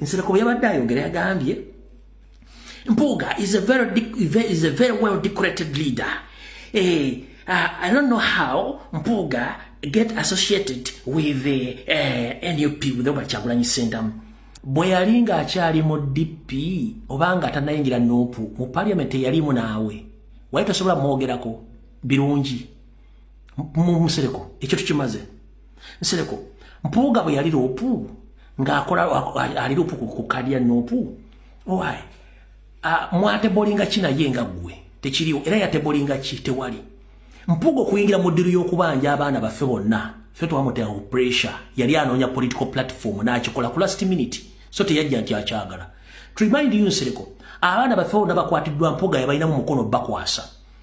nsereko bwe yabadde ayogera yagambye mpuuga is a very, is a very well decorated leader eh, uh, i don't know how mpuuga get associated with the uh, eh, nup with obert kyagulanyi sentamu bwe yali ng'akyali mu dp oba nga tanayingira nupu mu parliament eyalimu naawe wali tosobola mwogerako birungi mumusereko ekyo tukimaze nsereko mpuuga bwe yali loopu ng'akola ali loopu ku kaadi ya noopu owaye mwatebolinga ki naye nga ggwe tekiriwo era yatebolinga ki tewali mpuuga okuyingira mu ddiru y'okubanja abaana baffe bonna fe twamutera ku pressure yali anoonya political platform n'akikola ku last minute so teyajja nti akyagala to remind you nsereko abaana baffe bonna bakwatiddwa mpuuga yabalinamu mukono bakwasa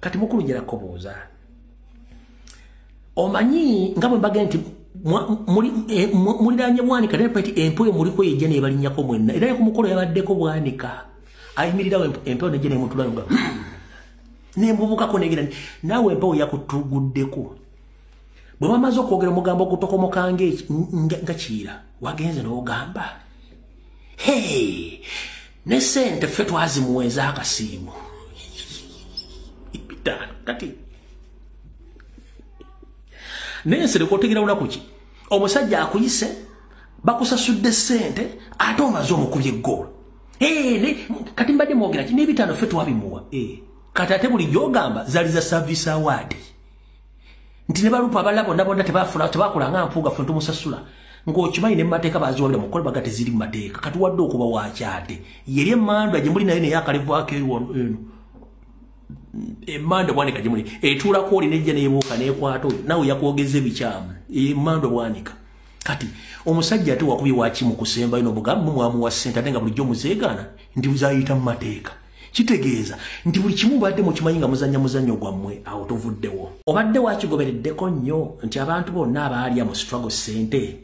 kati mukulu jera kobuuza omanyi nga bwe mbagee nti eh, muliranye bwanika naye pati empewo emuliko yejja nebalinyako mwenna era nekumukolo yabaddeko bwanika ayimirirawo empewo nejja nemutula nga nembubukako negera naawe empewo yakutuguddeko bwe bamaze okwogera omugambo ogutokomoka nga kiyira wagenze nogamba hey ne sente ffe twazimuwa ez'akasiimu ebitaano kati naye nsereka otegera lunaku ki omusajja akuyise bakusasudde sente ate omaze omukubye egoolo kati mbadde mwogera ki n'ebitaano ffe twabimuwa kati ate buli gyogamba zali za service award nti ne balupa abalala bonna bonna tebafuna tebakola nga mpuuga ffe tumusasula ng'okimanyi ne mu mateeka baziwabira mu kkolebwa gati ziri mu mateeka kati wadde okuba wakyade yeri emandwa gye muli nayo naye akalevwako eno emandwa bwanika gye muli etuulako oli nejja nebuuka nekwata oyo nawe yakwogeza ebikyamu emandwa bwanika kati omusajja ate wakubye wakimu kusembayo nobugamu mwamuwa sente ate nga bulijjo muzeegaana ndi buzayita mu mateeka kitegeeza nti buli kimu mubadde mukimanyi nga muzanya muzanyo gwammwe awo tuvuddewo obadde wakigobereddeko nnyo nti abantu bonna abaalya mu struggle sente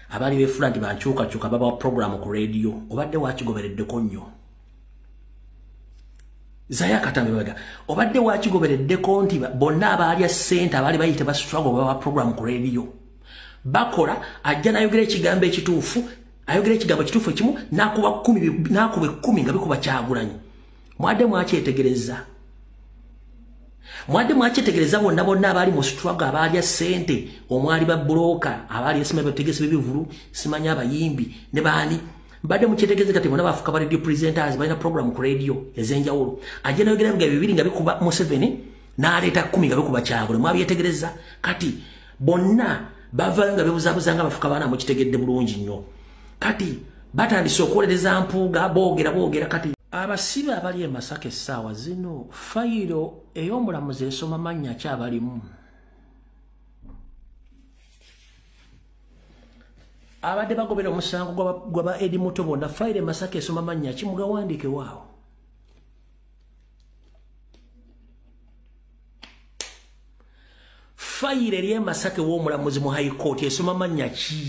abaali befuula nti bankyukakyuka babawa programu ku rediyo obadde wakigobereddeko nnyo zaya katambe baga obadde wakigobereddeko nti bonna abaalya sente abaali bayite ba struggle babawa programu ku rediyo bakola ajja nayogera ekigambo ekituufu ayogera ekigambo kituufu ekimu nakuba kumi nakuba ekkumi nga bikuba kyagulanyi mwadde mwakyetegereza mwadde mwakyetegereza bonna bonna abaali mu struggle abaalya ssente omwali babuloka abaali esima bategesi bebivulu simanya abayimbi ne baani mbadde mukyetegereza kati bona bafuka ba radio presenters balina program ku radio ez'enjawulo ajja nayogera biga bibiri nga bikuba museveni n'aleeta kumi nga bikuba kyagula mwabyetegereza kati bonna bavayo nga bebuzabuza nga bafuka baana mukitegedde bulungi nnyo kati batandise okuwolereza mpuuga boogera boogera kati abasibe abali e masaka essaawa zino fayiro ey'omulamuzi esoma mannya ki abalimu abadde bagobera omusango gwaba edi muto bonna fayiro e masaka esoma mannya ki mugawandiike waawo fayiro eri emasake w'omulamuzi mu high court esoma mannya ki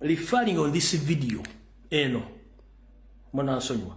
referring on this video eno munansonyiwa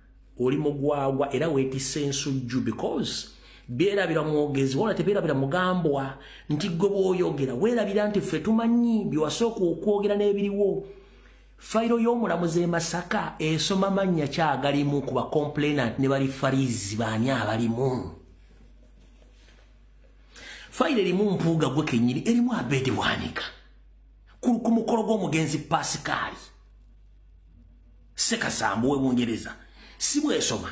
oli mugwagwa era wetisa ensujju because byerabira mwogezi wona tebyerabira mugambwa nti gwe bwoyogera werabira nti ffe tumanyi byewasooka okwogera n'ebiriwo fayiro y'omulamuzi e masaka esoma mannya kyagalimu ku bacomplainant ne bali farizi baani abalimu fayiro erimu mpuuga gwe kenyini erimu abeedi bwanika ku mukolo gw'omugenzi pasikaali sekasambu webungereza sibwesoma